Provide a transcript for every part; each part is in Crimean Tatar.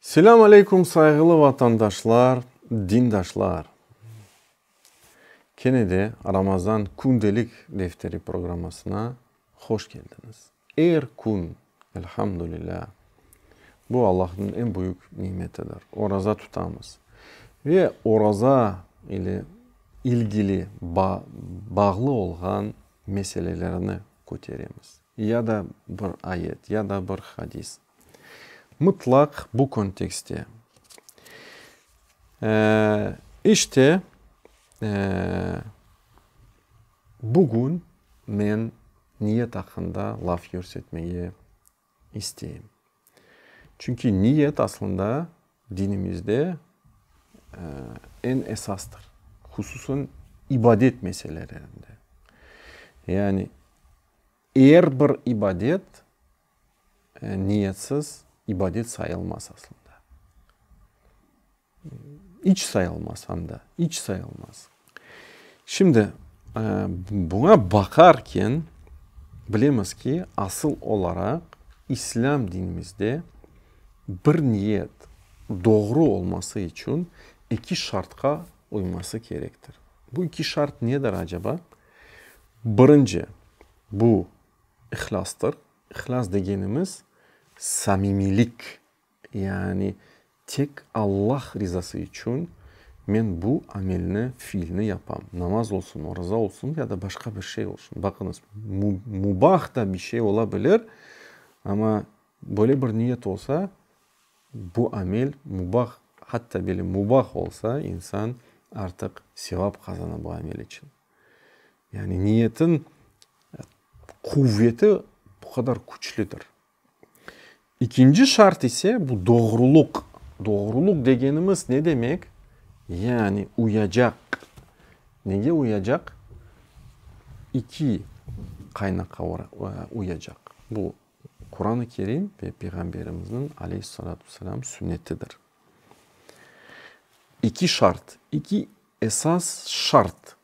Selâm aleyküm sayğılı vatandaşlar, dindaşlar! Kene de Ramazan kündelik defteri programmasına hoş keldiñiz. Er kün, elhamdülilâ, bu Allahnıñ eñ büyük nimetidir, oraza tutamız. Ve oraza ile ilgili bağlı olğan meselelerni köteremiz. Ya da bir ayet, ya da bir hadis. Mıtlaq bu kontekste. İşte, bugün men niyet aqqında laf yürsetmege isteyim. Çünki niyet aslında dinimizde eñ esastır, hususan ibadet meselelerinde. Yani er bir ibadet Niyetsiz ibadet sayılmaz aslında. İç sayılmaz anda, iç sayılmaz. Şimdi, buña baqarken bilemiz ki, asıl olaraq İslâm dinimizde bir niyet doğru olması içün eki şartqa uyması kerektir. Bu eki şart nedir acaba? Birinci, bu, İhlâstır. İhlâs degenimiz, samimiylik. Yani tek Allah rizası içün men bu amelni, fiilni yapam. Namaz olsun, oruza olsun ya da başqa bir şey olsun. Baqıñız, mubah da bir şey ola bilir, amma böyle bir niyet olsa, bu amel mubah, hatta böyle mubah olsa, insan artıq sevap qazana bu amel içün. Yani niyetin quvveti bu qadar küçlüdir. İkinci şart ise bu doğruluq. Doğruluq degenimiz ne demek? Yani uyacaq. Nege uyacaq? İki qaynaqa uyacaq. Bu Quran-ı Kerim ve Peyğamberimizniñ aleyhissalâtu vesselâm sünnetidir. İki şart, iki Esas şart,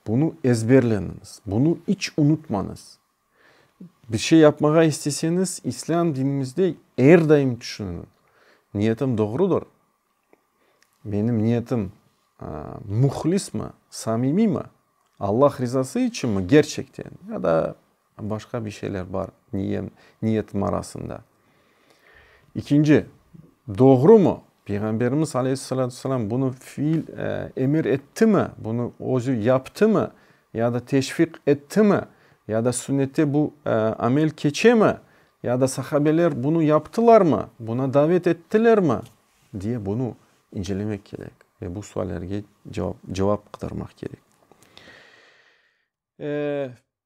bunı ezberleniñiz, bunı iç unutmañız. Bir şey yapmağa isteseñiz, İslâm dinimizde er daim tüşüniñiz, niyetim doğrudır, menim niyetim muhlismi, samimiymi, Allah rizası içinmi, gerçekten, ya da, Başqa bir şeyler bar niyem, niyetim arasında. İkinci, doğrumı? Peyğamberimiz aleyhissalâtu vesselâm bunı fiil, emir ettimi? Bunı özü yaptımı? Ya da teşviq ettimi? Ya da sünnette bu amel keçemi? Ya da sahabeler bunı yaptılarmı? Buna davet ettilermi? Diye bunı incelemek kerek. Ve bu suallerge cevap, cevap qıdırmaq kerek.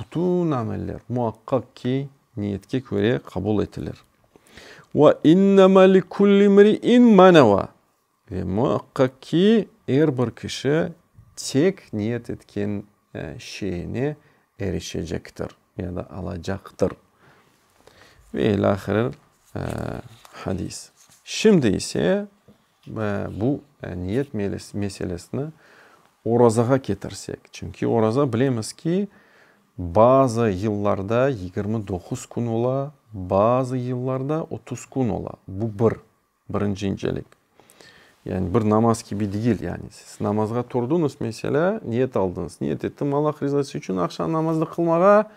Bütün ameller, muaqqaq ki, niyetke köre qabul etilir. Ve innema li kulli imri'in ma neva. Ve muaqqaq ki, er bir kişi tek niyet etken şeyine erişecektir ya da alacaqtır. Ve ilâhre hadis. Şimdi ise. Bu niyet meselesini orazağa ketirsek, çünki oraza bilemiz ki, bazı yıllarda yigirmi doquz kün ola, bazı yıllarda otuz kün ola. Bu bir, birinci incelik. Yani bir namaz kibi değil, yani siz namazğa turdıñız, meselâ, niyet aldıñız, niyet ettim Allah rızası içün aqşam namazını qılmağa,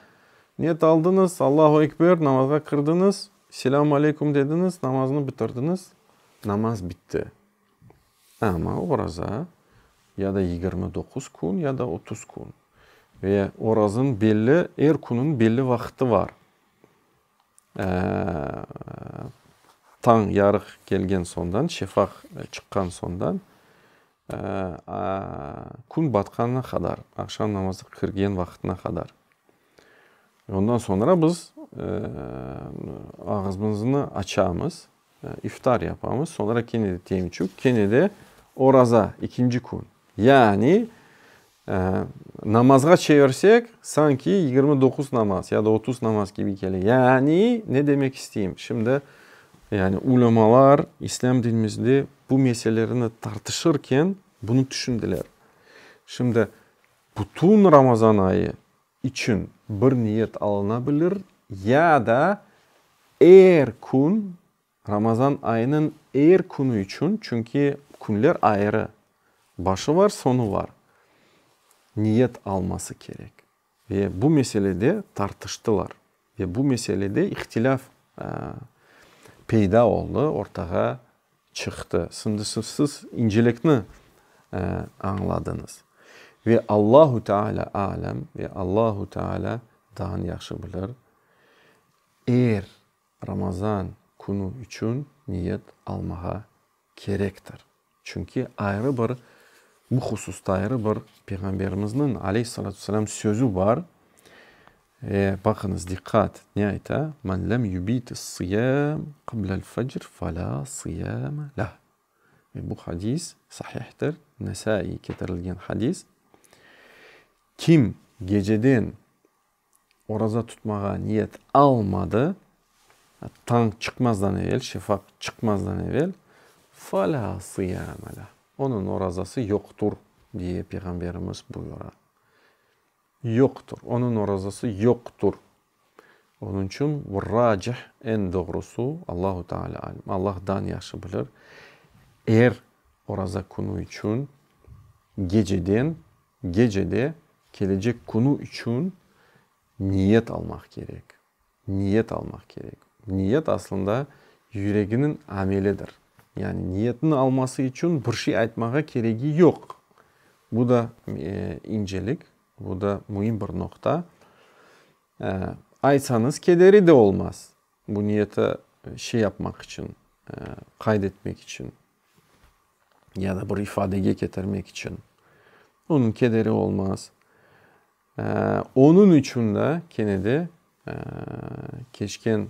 niyet aldıñız, Allahu ekber, namazğa kirdiñiz, Selâm aleykum dediñiz, namaznı bitirdiñiz. Namaz bitti. Amma oraza ya da yigirmi doquz kün, ya da otuz kün. Ve orazın belli, er künün belli vaqıtı var. Tañ yarıq kelgen soñdan, şefaq çıqqan soñdan Kün batqanına qadar, aqşam namazğa kirgen vaqıtına qadar. Ondan soñra biz ağızmıznı açamız, iftar yapamız, soñra kene de temçük, kene de oraza, ikinci kün. Yani Namazğa çevirsek, sanki yigirmi doquz namaz ya da otuz namaz kibi kele. Yani, ne demek isteyim? Şimdi, yani, ulemalar islâm dinimizde bu meselelerni tartışırken bunı tüşündiler. Şimdi, bütün Ramazan ayı içün bir niyet alınabilir ya da er kün Ramazan ayınıñ er künü içün, çünki künler ayrı, başı var, soñu var, niyet alması kerek. Ve bu meselede tartıştılar. Ve bu meselede ihtilâf peyda oldı, ortağa çıqtı. Şimdi siz incelikni añladıñız. Ve Allahu Teala a'lem, ve Allahu Teala dağın yahşı bilir, er. Ramazan künü içün niyet almağa kerektir. Çünki ayrı bir, bu hususta ayrı bir Peyğamberimizniñ, aleyhissalâtu vesselâm, sözü bar. Ve baqıñız, diqqat, ne ayta? Men lem yubit-ıs-sıyâm qıblel-fecr felâ sıyâme leh. Ve bu hadis sahihtir, Nesâiy ketirilgen hadis. Kim geceden oraza tutmağa niyet almadı, tañ çıqmazdan evel, şefaq çıqmazdan evel, Falâ sıyâme leh, onıñ orazası yoqtur, diye Peyğamberimiz buyura. Yoqtur, onıñ orazası yoqtur. Onıñ içün racih, eñ doğrusu, Allahu Teala alim, Allah dan yahşı bilir, er oraza künü içün geceden Gecede kelecek künü içün niyet almaq kerek. Niyet almaq kerek. Niyet aslında yüreginiñ amelidir. Yani niyetniñ alması içün bir şey aytmağa keregi yoq. Bu da incelik, bu da müim bir noqta. Aytsañız kederi de olmaz. Bu niyeti şey yapmaq içün, qayd etmek içün ya da bir ifadege ketirmek içün onıñ kederi olmaz. Onıñ içün de kene de keçken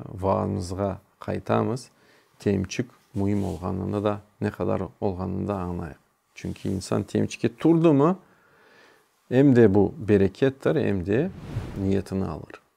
vaazımızğa qaytamız, temçik müim olğanını da, ne qadar olğanını da añlayıq. Çünki insan temçike turdı mı, em de bu berekettir, em de niyetini alır.